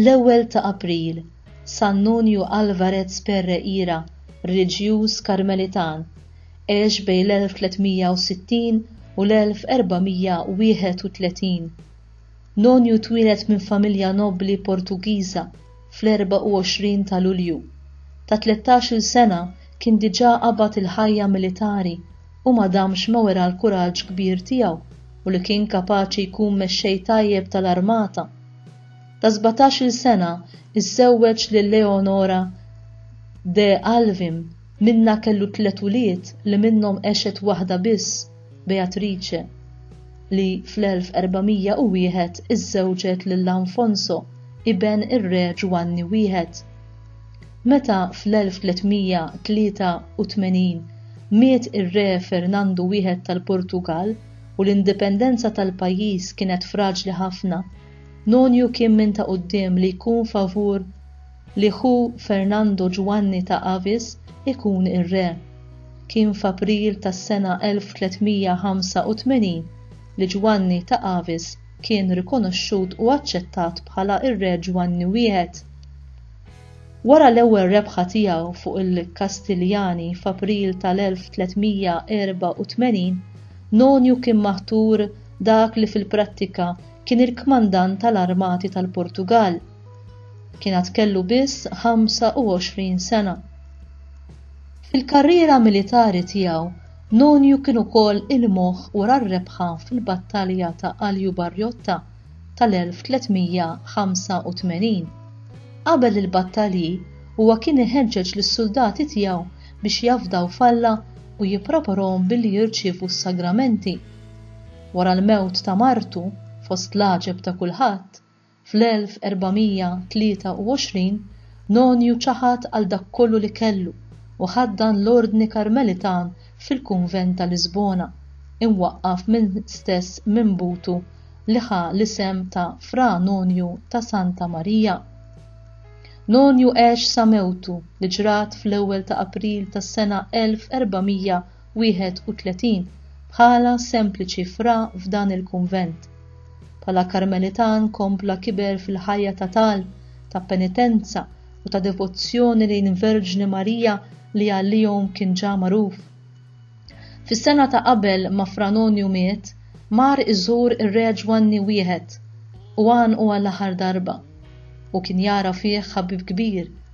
L-ewwel ta' April, San Nunju Alvarez Perreira, reliġjuż Karmelitan, għex bejn l-1360 u l-1431. Nonju twieled minn familja nobbli Portugiża fl-24 ta' Lulju. Ta' tlettax-il sena kien diġà qabad il-ħajja militari u ma damx ma wera l-kuraġġ kbir tiegħu u li kien kapaċi jkun mexxej tajjeb tal-armata. Ta' sbatax-il sena iżżewweġ lil Leonora de Alvim, minnha kellu tliet ulied li minnhom għexet waħda biss, Beatrice, li fl-1401 iżżewġet lil Alfonso, iben ir-Re Ġwanni Wieħed. Meta fl-1383 miet ir-Re Fernandu Wieħed tal-Portugall u l-indipendenza tal-pajjiż kienet fraġli ħafna, Nonju kien minn ta' quddiem li jkun favur li ħu Fernando Ġwanni ta' Avis ikun ir-re. Kien f'April tas-sena 1385 li Ġwanni ta' Avis kien rikonoxxut u aċċettat bħala r-re Ġwanni Wieħed. Wara l-ewwel rebħa tiegħu fuq il-Kastiljani f'April tal-1384, Nonju kien maħtur dak li fil-prattika kien il-kmandant tal-armati tal-Portugall. Kien għad kellu biss 25 sena. Fil-karriera militari tiegħu, Nonju kien ukoll il-moħħ wara r-rebħa fil-Battalja ta' Aljubarjotta tal-1385. Qabel il-battalji, huwa kien iħeġġeġ lis-suldati tiegħu biex jafdaw f'Alla u jippreparhom billi jirċievu s-sagramenti. Wara l-mewt ta' martu, fost l-għaġeb ta' kulħadd, Fl-1423, Nonju ċaħad għal dak kollu li kellu u ħaddan l-Ordni Karmelitan fil-kunvent ta' Lisbona, imwaqqaf mill-istess minbutu li ħa l-isem ta' Fra Nonju ta' Santa Marija. Nonju għex sa mewtu li ġrat fl-ewwel ta' April tas-sena 1400, 31 Bħala sempliċi fra f'dan il-kunvent, bħala Karmelitan kompla kiber fil-ħajja ta' talb, ta' penitenza u ta' devozzjoni lejn il-Verġni Marija li għalihom kien ġa magħruf. Fis-sena ta' qabel ma Fra Nonju miet, mar iżur ir-Re Ġwanni Wieħed u għanqu għall-aħħar darba, u kien jara fih ħabib kbir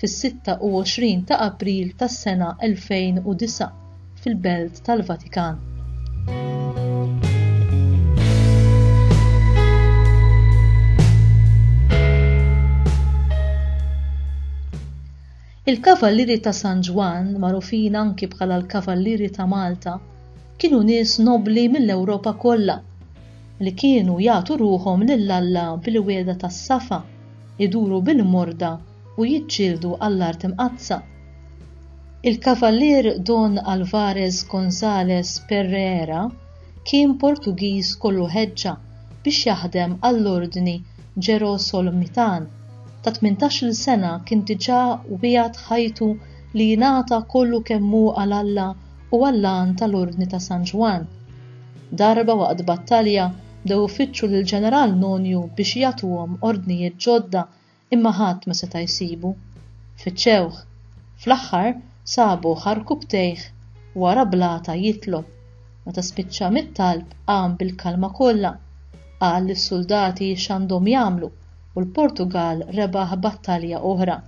fis-26 ta' April tas-sena 2009 fil-Belt tal-Vatikan. Il-Kavallieri ta' San Ġwann, magħrufin anki bħala l-Kavallieri ta' Malta, kienu nies nobbli mill-Ewropa kollha li kienu jagħtu ruħhom lil Alla bil-wiegħda tas-safa, iduru bil-morda u jiġġieldu għall-Art Imqaddsa. Il-Kavalier Don Alvarez Gonzalez Perreera kien Portugiż kollu ħeġġa biex jaħdem għall-Ordni Ġerosolmitan, ta' tmintax-il sena kien diġà wiegħed ħajtu li jingħata kollu kemm hu għal Alla u għall-għan tal-Ordni ta' San Ġwann. Darba waqt battalja bdew ifittxu lill-Ġeneral Nonju biex jagħtuhom ordnijiet ġodda Imma ħadd ma seta' jsibu. Fittxewh. Fl-aħħar sabuh għarkub tejh wara blata jitlob. Meta spiċċa mit-talb qam bil-kalma kollha. Qal lis-suldati x'għandhom jagħmlu u l-Portugall rebaħ battalja oħra.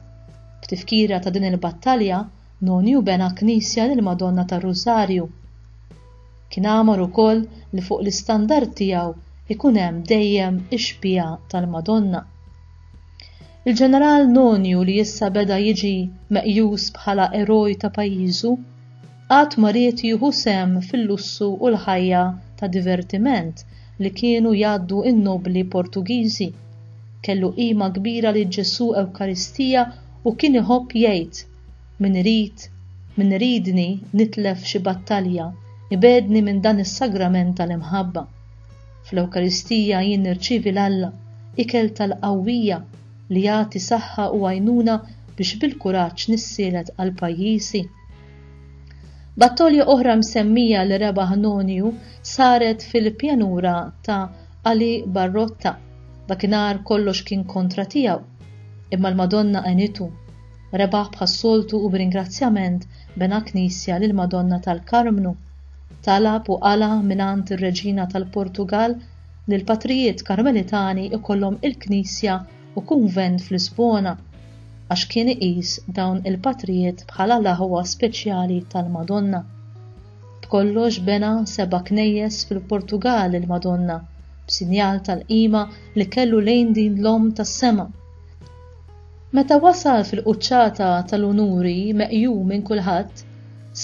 B'tifkira ta' din il-battalja Nonju bena knisja lill-Madonna tar-Rużarju. Kien għamar ukoll li fuq l-istandard tiegħu jkun hemm dejjem ix-xbieha tal-Madonna. Il-Ġeneral Nonju li issa beda jiġi meqjus bħala eroj ta' pajjiżu, qatt ma ried jieħu sehem fil-lussu u l-ħajja ta' divertiment li kienu jgħaddu n-nobli Portugiżi. Kellu qima kbira lil Ġesù Ewkaristija u kien iħobb jgħid, Min irid, min iridni nitlef xi battalja ibegħdni minn dan is-sagrament tal-imħabba. Fl-Ewkaristija jien nirċievi l-Alla, ikel tal-qawwija li jagħti saħħa u għajnuna biex bil-kuraġġ nissielet għal pajjiżi. Battolja oħra msemmija li rebaħ Nonju saret fil-pjanura ta' Ali Barrotta. Dakinhar kollox kien kontra tiegħu, imma l-Madonna għenitu. Rebaħ bħas-soltu u b'ringrazzjament bena knisja lill-Madonna tal-Karmnu. Talab u qala' mingħand ir-Reġina tal-Portugall li l-patrijiet Karmelitani ikollhom il-knisja u kunvent f'Lisbona għax kien iqis dawn il-patrijiet bħala l-aħwa speċjali tal-Madonna. B'kollox bena seba' knejjes fil-Portugall il-Madonna b'sinjal tal-qima li kellu lejn din l-Omm tas-Sema. Meta wasal fil-quċċata tal-unuri meqjum minn kulħadd,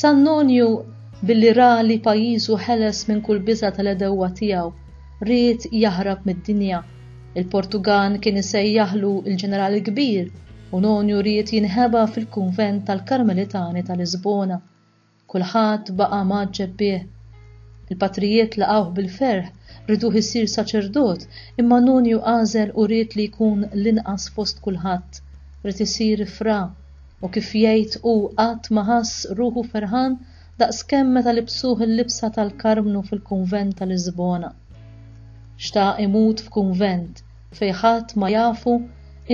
San Nonju, billi ra li pajjiżu ħeles minn kull biża' tal-għedewwa tiegħu, ried jaħrab mid-dinja. Il-Portugan kien isejjaħlu l-Ġeneral il-Kbir u Nonju ried jinħeba fil-kunvent tal-Karmelitani ta' Lisbona. Kulħadd baqa' mgħaġġeb bih. Il-patrijiet laqgħuh bil-ferħ, riduh isir saċerdot, imma Nunju għażel u ried li jkun l-inqas fost kulħadd, ried isir fra, u kif jgħid hu qatt ma ħass ruħu ferħan daqskemm meta libsuh il-libsa tal-karmnu fil-kunvent ta' Lisbona. Xtaq imut f'kunvent, fejn ħadd ma jafu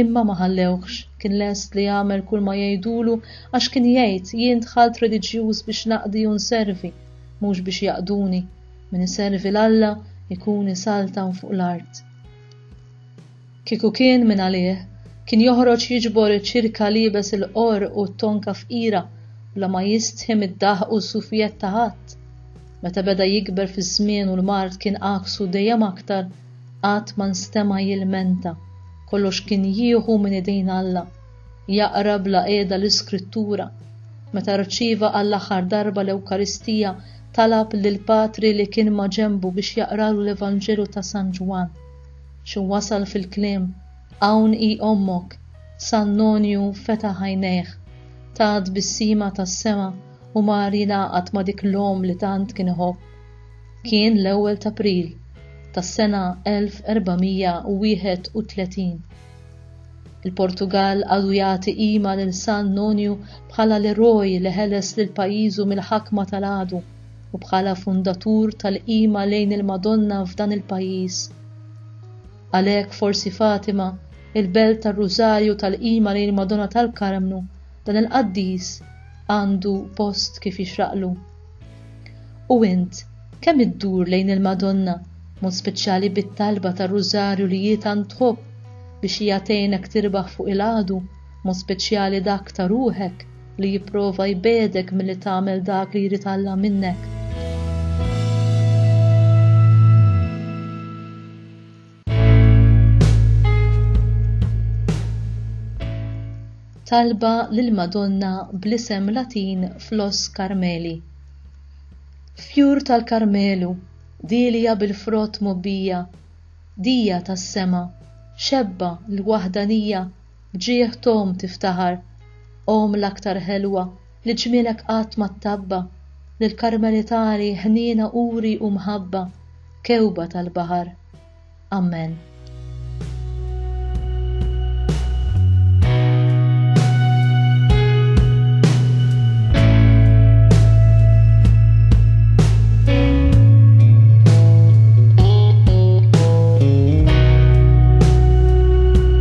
imma ma ħallewhx, kien lest li jagħmel kull ma jgħidulu għax kien jgħid jien dħalt reliġjuż biex naqdi u nservi, mhux biex jaqduni, min iservi 'l Alla jkun isaltan fuq l-art. Kieku kien minn għalih, kien joħroġ jiġbor iċ-ċirka liebes il-qorq u t-tonka fqira bla ma jistħi mid-daħq u s-sufijett ta' ħadd. Meta beda jikber fiż-żmien u l-mard kien għaksu dejjem aktar, qatt ma nstema' jilmenta, kollox kien jieħu minn idejn Alla, jaqra bla qiegħda l-Iskrittura. Meta rċieva għall-aħħar darba l-Ewkaristija, talab lill-patri li kien maġenbu biex jaqralu l-Evanġelju ta' San Ġwann. Xi wasal fil-kliem, Hawn hi Ommok, San Nonju fetaħ għajnejh, ta tbissima tas-sema u mar jingħaqad ma' dik l-omm li tant kien iħobb. Kien l-ewwel t'April tas-sena 1431. Il-Portugall għadu jagħti qima lil San Nonju bħala l-eroj li ħeles lil pajjiżu mill-ħakma tal-għadu u bħala fundatur tal-qima lejn il-Madonna f'dan il-pajjiż. Għalhekk forsi Fatima, il-belt tar-Rużarju tal-qima lejn il-Madonna tal-Karmnu, dan il-qaddis għandu post kif jixraqlu. U int, kemm iddur lejn il-Madonna, b'mod speċjali bit-talba tar-Rużarju li hi tant tħobb, biex hija tgħinek tirbaħ fuq il-għadu, b'mod speċjali dak ta' ruħek li jipprova jbegħdek milli tagħmel dak li jrid Alla minnek? Talba lill-Madonna bl-isem Latin Flos Carmeli. Fjur tal-Karmelu, dielja bil-frott mobbija, dija tas-sema, xebba l-waħdanija B'ġieħ t'omm tiftaħar, omm l-aktar ħelwa li ġmielek qatt ma ttabba, lill-Karmelitani ħniena uri u mħabba, kewba tal-baħar. Ammen.